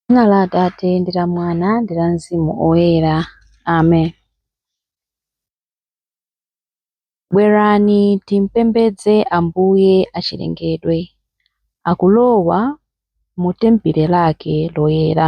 Dzina la Atate ndi la Mwana ndi la Mzimu Woyera. Amen. Bwerani timpembedze Ambuye achilengedwe, akulowa mu tempile lake loyera.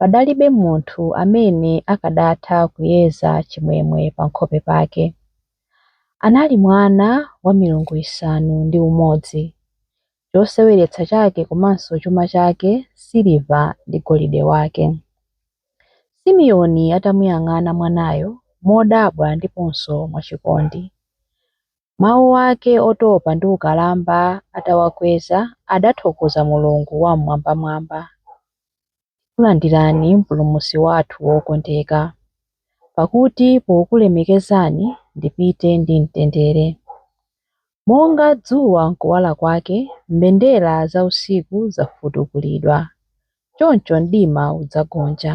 Padalibe munthu amene akadatha kuyeza chimwemwe pankhope pake. Anali mwana wa milungu isanu ndi umodzi. Choseweretsa chake komanso chuma chake siliva ndi golide wake. Simiyoni atamuyang'ana mwanayo modabwa ndiponso mwachikondi. Mawu ake otopa ndi ukalamba atawakweza adathokoza Mulungu Wam'mwambamwamba. tikulandirani Mpulumutsi wathu wokondeka, pakuti pokulemekezani ndipite ndi mtendere. Monga dzuwa nkuwala kwake, mbendera za usiku zafutukulidwa, choncho mdima udzagonja.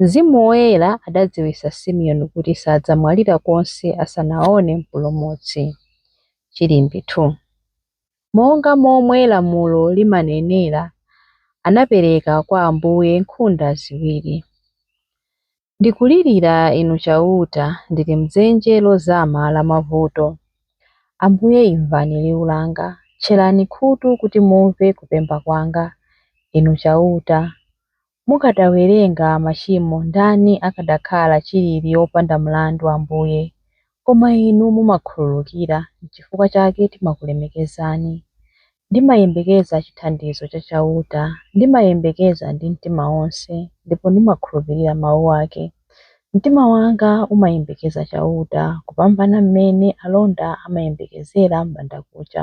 Mzimu Woyera adadziwitsa Simeoni kuti sadzamwalira konse asanaone Mpulumutsi. Chilimbi 2. Monga momwe lamulo limanenera, anapereka kwa Ambuye nkhunda ziwiri. Ndikulirira Inu Chauta, ndili m'dzenje lozama la mavuto. Ambuye imvani liwu langa, tcherani khutu kuti mumve kupemba kwanga, Inu Chauta, Mukadawerenga machimo ndani akadakhala chilili opanda mlandu Ambuye, koma inu mumakhululukira nchifukwa chake timakulemekezani. Ndimayembekeza chithandizo cha Chauta, ndimayembekeza ndi mtima wonse, ndipo ndimakhulupirira mau ake. Mtima wanga umayembekeza Chauta kupambana m'mene alonda amayembekezera m'bandakucha.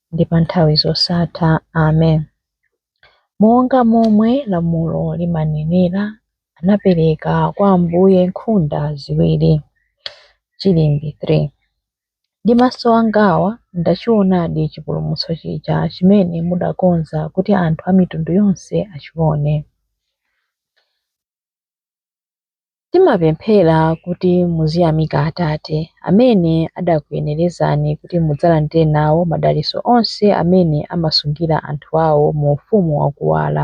ndi pa nthawi zosatha. Amen. Monga momwe lamulo limanenera, anapereka kwa Ambuye nkhunda ziwiri. Chilimbi 3 Ndi maso angawa ndachionadi chipulumutso chija chimene mudakonza kuti anthu a mitundu yonse achione. Timapemphera kuti muziyamika Atate, amene adakuyenerezani kuti mudzalandire nawo madalitso onse amene amasungira anthu ao mu ufumu wa kuwala.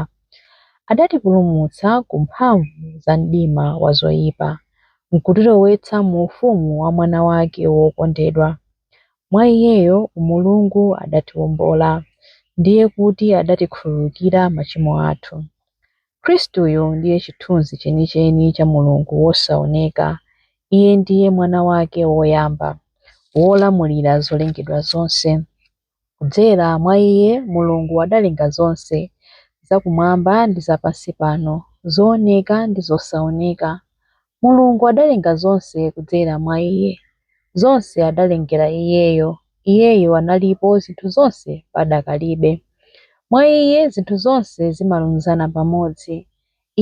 Adatipulumutsa ku mphamvu za mdima wa zoipa, nkutilowetsa mu ufumu wa Mwana wake wokondedwa. Mwa Iyeyo Mulungu adatiwombola, ndiye kuti adatikhululukira machimo athu. Khristuyo ndiye chithunzi chenicheni cha Mulungu wosaoneka. Iye ndiye Mwana wake woyamba, wolamulira zolengedwa zonse. Kudzera mwa iye Mulungu adalenga zonse, zakumwamba ndi za pansi pano, zooneka ndi zosaoneka. Mulungu adalenga zonse kudzera mwa Iye. Zonse adalengera Iyeyo. Iyeyo analipo zinthu zonse padakalibe. Mwa Iye zinthu zonse zimalunzana pamodzi.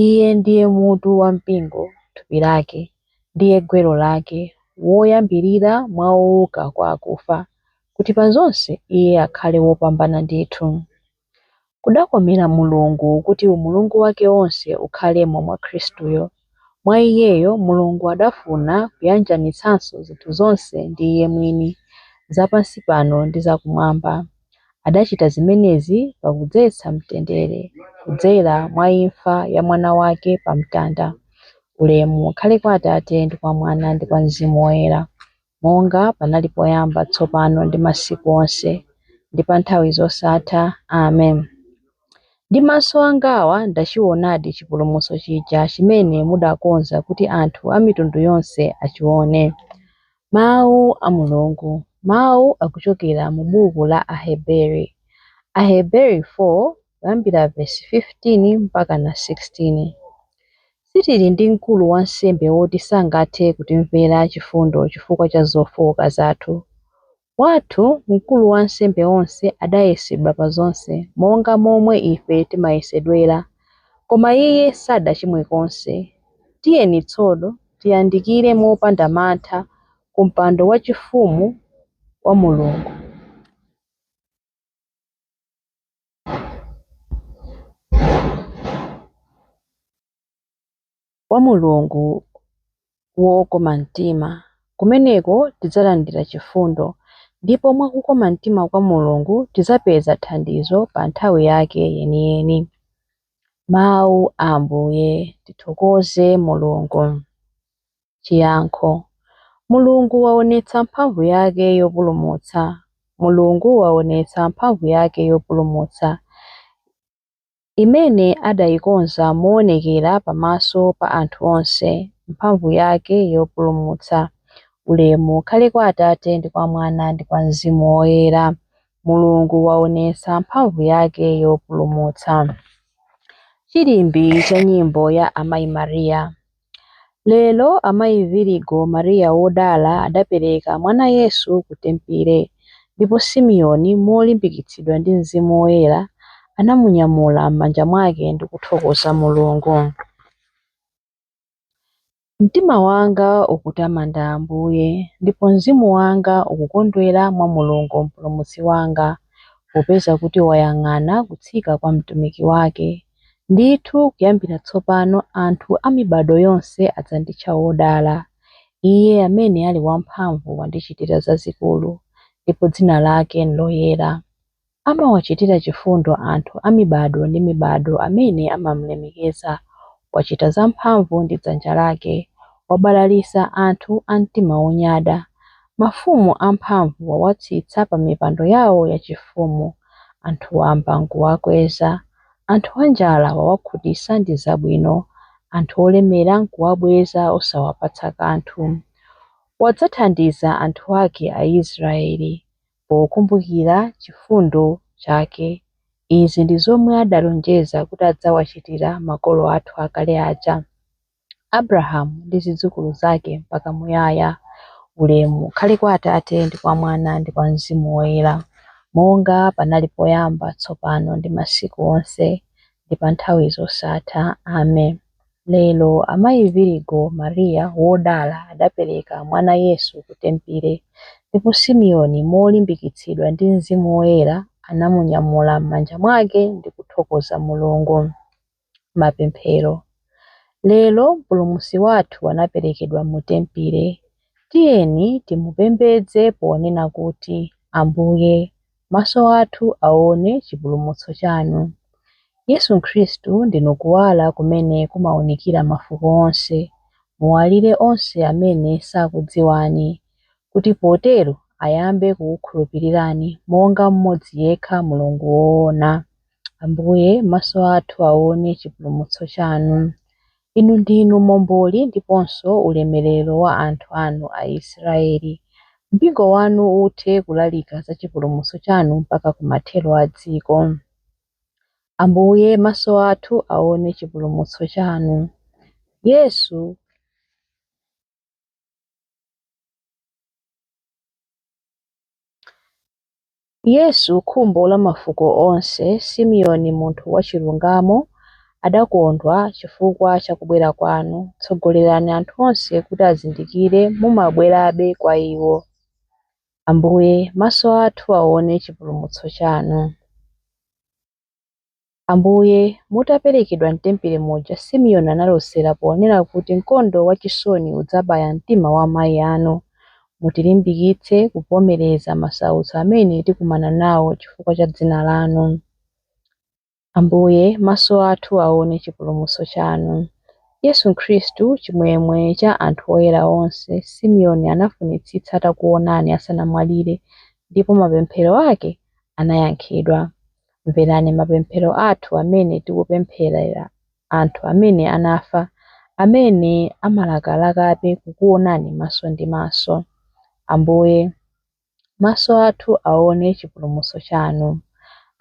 Iye ndiye mutu wa mpingo, thupi lake. Ndiye gwero lake, woyambirira mwa ouka kwa akufa, kuti pa zonse Iye akhale wopambana ndithu. Kudakomera Mulungu kuti umulungu wake wonse ukhalemo mwa Khristuyo. Mwa Iyeyo Mulungu adafuna kuyanjanitsanso zinthu zonse ndi Iye mwini, za pansi pano ndi za Kumwamba. Adachita zimenezi pakudzetsa mtendere kudzera mwa imfa ya Mwana wake pa mtanda. Ulemu ukhale kwa Atate ndi kwa Mwana ndi kwa Mzimu Woyera. monga panali poyamba, tsopano, ndi masiku onse, ndi pa nthawi zosatha. Amen. Ndi maso angawa ndachiwonadi chipulumutso chija chimene mudakonza kuti anthu a mitundu yonse achiwone. Mawu a Mulungu. Mawu akuchokera mu buku la Aheberi. Aheberi 4. kuyambira vesi 15 mpakana 16. Sitili ndi mkulu wansembe woti sangathe kutimvera chifundo chifukwa cha zofooka zathu. Wathu mkulu wansembe onse adayesedwa pa zonse, monga momwe ife timayesedwera, koma iye sadachimwe konse. Tiyeni tsono tiyandikire mopanda mantha ku mpando wachifumu wa Mulungu. kwa Mulungu wokoma mtima. Kumeneko tidzalandira chifundo, ndipo mwa kukoma mtima kwa Mulungu tidzapeza thandizo pa nthawi yake yeniyeni. Mawu a Ambuye. Tithokoze Mulungu. Chiyankho, Mulungu waonetsa mphamvu yake yopulumutsa. Mulungu waonetsa mphamvu yake yopulumutsa, imene adaikonza moonekera pamaso pa anthu onse, mphamvu yake yopulumutsa. Ulemu ukhale kwa Atate, ndi kwa Mwana, ndi kwa Mzimu Woyera. Mulungu waonetsa mphamvu yake yopulumutsa. Chilimbi cha nyimbo ya Amayi Maria. Lero amayi Virigo Maria wodala adapereka mwana Yesu ku tempile, ndipo Simeoni molimbikitsidwa ndi Mzimu Woyera anamunyamula m'manja mwake ndi kuthokoza Mulungu. Mtima wanga ukutamanda Ambuye, ndipo mzimu wanga ukukondwera mwa Mulungu Mpulumutsi wanga, popeza kuti wayang'ana kutsika kwa mtumiki wake. Ndithu kuyambira tsopano anthu a mibado yonse adzanditcha wodala. Iye amene ali wamphamvu wandichitira zazikulu, ndipo dzina lake n'loyera. Amawachitira chifundo anthu a mibado ndi mibado amene amamulemekeza. Wachita zamphamvu ndi dzanja lake. Wabalalitsa anthu a mtima wonyada. Mafumu amphamvu wawatsitsa pamipando yawo yachifumu. Anthu wamba n'kuwakweza. Anthu anjala wawakhutitsa ndi zabwino, anthu olemera nkuwabweza osawapatsa kanthu. Wadzathandiza anthu ake Aisraeli, pokumbukira chifundo chake. Izi ndi zomwe adalonjeza kuti adzawachitira makolo athu akale aja. Abrahamu ndi zidzukulu zake mpaka muyaya. Ulemu ukhale kwa Atate, ndi kwa Mwana, ndi kwa Mzimu Woyera, monga panali poyamba, tsopano, ndi masiku onse, ndi pa nthawi zosatha. Amen. Lero amayi Virigo Maria wodala adapereka mwana Yesu ku tempile, ndipo Simeoni molimbikitsidwa ndi Mzimu Woyera anamunyamula m'manja mwake ndi kuthokoza Mulungu. mapemphero. Lero Mpulumutsi wathu anaperekedwa mu tempile, tiyeni timupembedze ponena kuti, Ambuye, maso athu aone chipulumutso chanu. Yesu Khristu ndinu kuwala kumene kumaunikira mafuko onse, muwalire onse amene sakudziwani, kuti potero ayambe kukukhulupirirani monga mmodzi yekha Mulungu woona. Ambuye, maso athu aone chipulumutso chanu. Inu ndinu momboli ndiponso ulemerero wa anthu anu Aisraeli. Mpingo wanu uthe kulalika za chipulumutso chanu mpaka kumathero a dziko. Ambuye, maso athu aone chipulumutso chanu. Yesu. Yesu, khumbo la mafuko onse, Simeoni munthu wachilungamo, adakondwa chifukwa cha kubwera kwanu, tsogolerani anthu onse kuti azindikire mumabwerabe kwa iwo. Ambuye, maso athu aone chipulumutso chanu. Ambuye, mutaperekedwa m'tempile muja Simeoni analosera ponena kuti mkondo wachisoni udzabaya mtima wa amayi anu. Mutilimbikitse kuvomereza masautso amene tikumana nawo chifukwa cha dzina lanu. Ambuye, maso athu aone chipulumutso chanu. Yesu Khristu, chimwemwe cha anthu oyera onse, Simeoni anafunitsitsa atakuonani asanamwalire, ndipo mapemphero ake anayankhidwa. Mverani mapemphero athu amene tikupempherera anthu amene anafa amene amalakalakabe kukuonani maso ndi maso. Ambuye, maso athu aone chipulumutso chanu.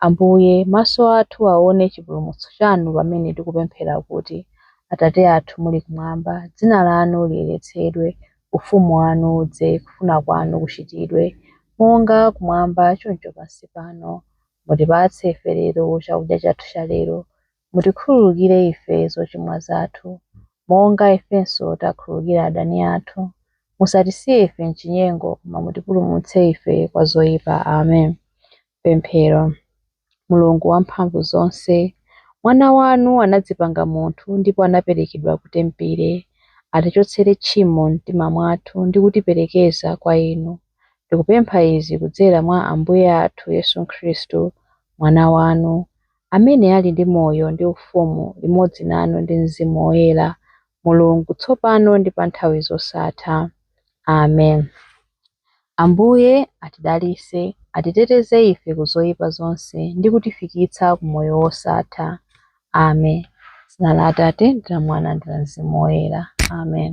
Ambuye, maso athu aone chipulumutso chanu pamene tikupemphera kuti, Atate athu muli kumwamba, dzina lanu liyeretsedwe, Ufumu wanu udze. Kufuna kwanu kuchitidwe, monga kumwamba choncho pansi pano. Mutipatse ife lero chakudya chathu chalero. Mutikhululukire ife zochimwa zathu, monga ifenso takhululukira adani athu. Musatisiye ife m'chinyengo, koma mutipulumutse ife kwa zoipa. Amen. Pemphero. Mulungu wamphamvu zonse, Mwana wanu anadzipanga munthu ndipo anaperekedwa ku tempile, atichotsere tchimo m'mtima mwathu ndi kutiperekeza kwa Inu. Tikupempha izi kudzera mwa Ambuye athu Yesu Khristu, Mwana wanu, amene ali ndi moyo ndi ufumu limodzi nanu ndi Mzimu Woyera, Mulungu, tsopano ndi pa nthawi zosatha. Amen. Ambuye atidalitse, atiteteze ife ku zoipa zonse ndi kutifikitsa ku moyo wosatha. Amen. Dzina la Atate ndi la Mwana ndi la Mzimu Woyera. Amen.